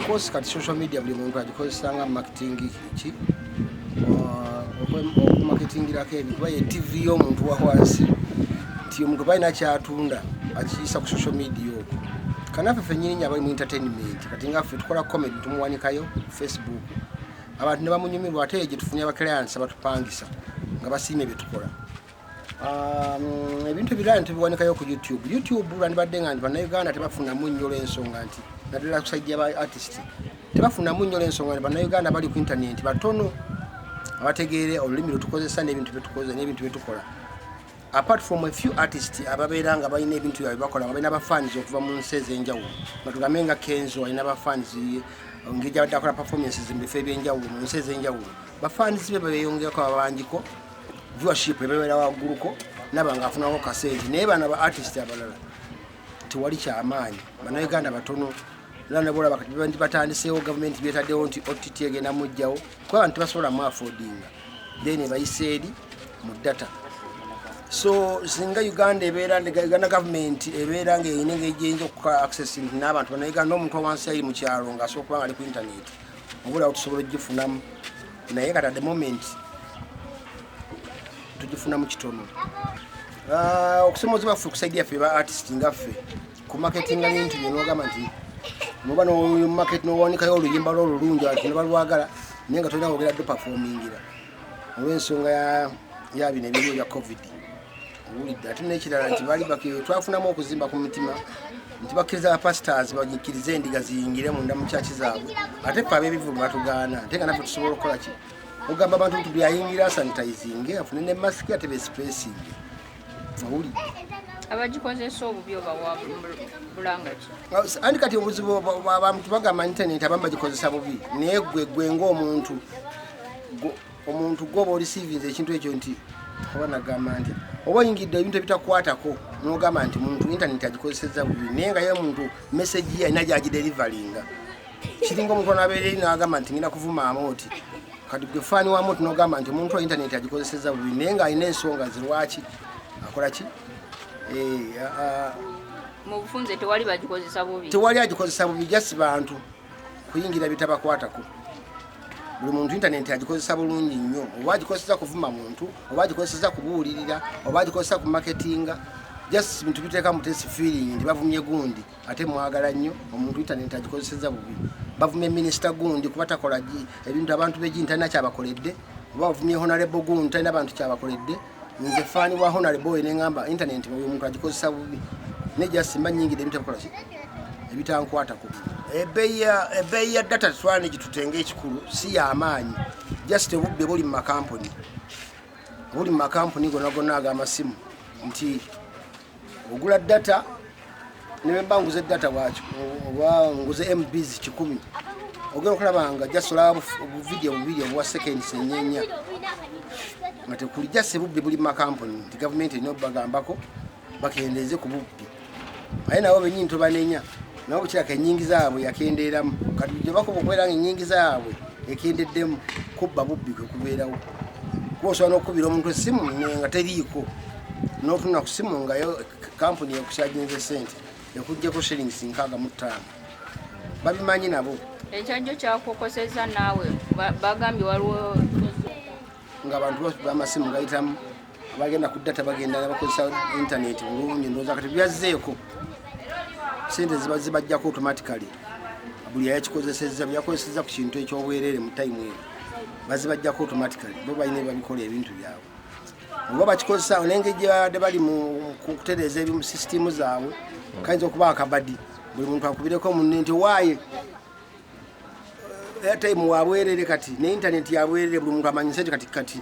Of course kati social media buli muntu agikozesa nga marketing ki okumaketingirako uh, ebintu baye TV y'omuntu wa wansi nti omuntu balina kyatunda akiyisa ku social media okwo kanaffe fennyini abali mu entertainment kati nga ffe tukola comedy tumuwanikayo facebook abantu ne bamunyumirwa ate gye tufunye abaclients abatupangisa nga basiimye bye tukola Um, ebintu ebirala ntibiwanikayo ku youtube youtube lwandibadde nga nti bannayuganda tebafunamu nnyo olwensonga nti naddala kusaidi yaba artist tebafunamu nnyo olwensonga nti bannayuganda bali ku intaneti batono abategeere olulimi lwetukozesa nebintu byetukozesa nebintu byetukola apart from a few artist ababeera nga balina ebintu byabwe bakola nga balina bafans okuva mu nsi ez'enjawulo nga tugambe nga kenzo alina bafans ngeri gyabadde akola performances mu bifo eby'enjawulo mu nsi ez'enjawulo bafans be bebeyongeyako babanjiko viewership ebeera wagguluko naba nga afunako kasente naye bana ba artist abalala tewali kyamaanyi banauganda batono era nabolaba kati batandiseewo gavumenti byetaddewo nti ott egenda mujjawo kuba abantu tebasobola mu afodinga then ebayisa eri mu data so singa uganda ebeera uganda gavumenti ebeera nga erina engeri gyeyinza okuka access nti n'abantu banauganda n'omuntu owansi ayi mu kyalo ng'asobola okuba nga ali ku intaneti obulawo tusobola ogifunamu naye kati at the moment tugifunamu kitono ah, okusomoza baffe kusaidia yaffe ba artist nga ffe ku marketinga bintu byenogamba nti noba nomarket nowandikayo oluyimba lwo olulungi ati nebalwagala naye nga tolina wogera dupafomingira olw'ensonga ya bino ebiri ebya covid owulidde ate n'ekirala nti baali twafunamu okuzimba ku mitima nti bakkiriza bapasitaazi banyikirize endiga ziyingire munda mu kyaki zaabwe ate fe ab'ebivulu batugaana ate nga naffe tusobola okukola ki ogamba abantu nti byayingira sanitayizinge afune ne masiki ate besipesinge abagikozesa obubi obawa bulangaki andi kati obuzibu abantu bagamba internet abamu bagikozesa bubi naye gwe gwe ngaomuntu omuntu gwoba olisivinza ekintu ekyo nti oba nagamba nti oba oyingidde ebintu ebitakwatako nogamba nti muntu internet agikozeseza bubi naye nga ye muntu message ye alina gyagiderivalinga kiringa omuntu anabeereri n'agamba nti ngenda kuvumaamu oti kati gwe faani wamu oti n'ogamba nti omuntu wa intaneti agikozeseza bubi naye ng'alina ensonga ze lwaki akola ki eh, mu bufunze tewali bagikozesa bubi tewali agikozesa bubi jasi bantu kuyingira bitabakwatako buli muntu intaneti agikozesa bulungi nnyo oba agikozesa kuvuma muntu oba agikozesa kubuulirira oba agikozesa kumaketinga just bintu biteeka mutesi feeling nti bavumye gundi ate mwagala nnyo omuntu intaneti agikozeseza bubi bavumye minisita gundi kuba takola ebintu abantu begini talina kyabakoledde oba bavumye honarebo gundi talina bantu kyabakoledde nze faani wa honarebo oyo neŋamba intaneti oyo omuntu agikozesa bubi naye jasimba nyingide ebintu abakola ki ebitankwatako ebbeeyi ya data twana gitutenga ekikulu si yamaanyi just obubbi buli mu makampuni buli mu makampuni gonagona agamasimu nti ogula data newemba nguze data waki oba nguze mbs kikumi ogenda okulabanga jasola buvidiyo bubiri obwa seconds enyenya nga tekuli jase bubbi buli makampuni nti gavumenti erina obubagambako bakendeeze ku bubbi aye nabo benyini tobanenya nabo kiraka enyingiza yaabwe yakendeeramu kati bujja bakuba okubeera nga enyingiza yaabwe ekendeddemu kubba bubbi kwe kubeerawo kuba osobola n'okukubira omuntu essimu nga teriiko n'otunula ku simu nga yo kampuni ekukyajinza esente ekugjeko shillings nkaaga mu ttaano babimanyi nabo ekyajjo kyakukoseza naawe bagambye waliwo nga abantu bamasimu gayitamu abagenda ku data bagenda bakozesa intaneti bulungi ndowooza kati byazzeeko sente zibajjako automatically buli yayakikozesezza byakozesezza ku kintu ekyobwerere mu time eyo bazibajjako automatically bo balina ebabikola ebintu byabwe oba bakikozesa nengeri gyebabadde bali mukutereeza ebimu sisitimu zaabwe kayinza okuba akabadi buli muntu akubireko munne nti waaye eh, airtime wabwerere kati ne intaneti yabwerere buli muntu amanyise ti kati kati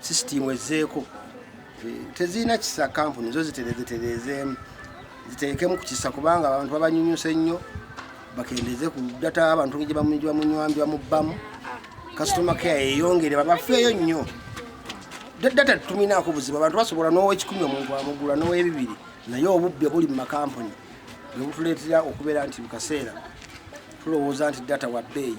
sisitiimu ezzeeko tezirina kisa kampuni zo ziterezetereezeemu ziteekemu ku kisa kubanga abantu babanyunyusa ennyo bakendeeze ku data abantu gye bamunywambi bamubbamu kasitoma kea yeyongere babafeeyo nnyo data tuminaako buzibu abantu basobola n'owekikumi omuntu amugula n'owebibiri naye obubbi obuli mu makampuni bwe butuleetera okubeera nti mu kaseera tulowooza nti data wa bbeeyi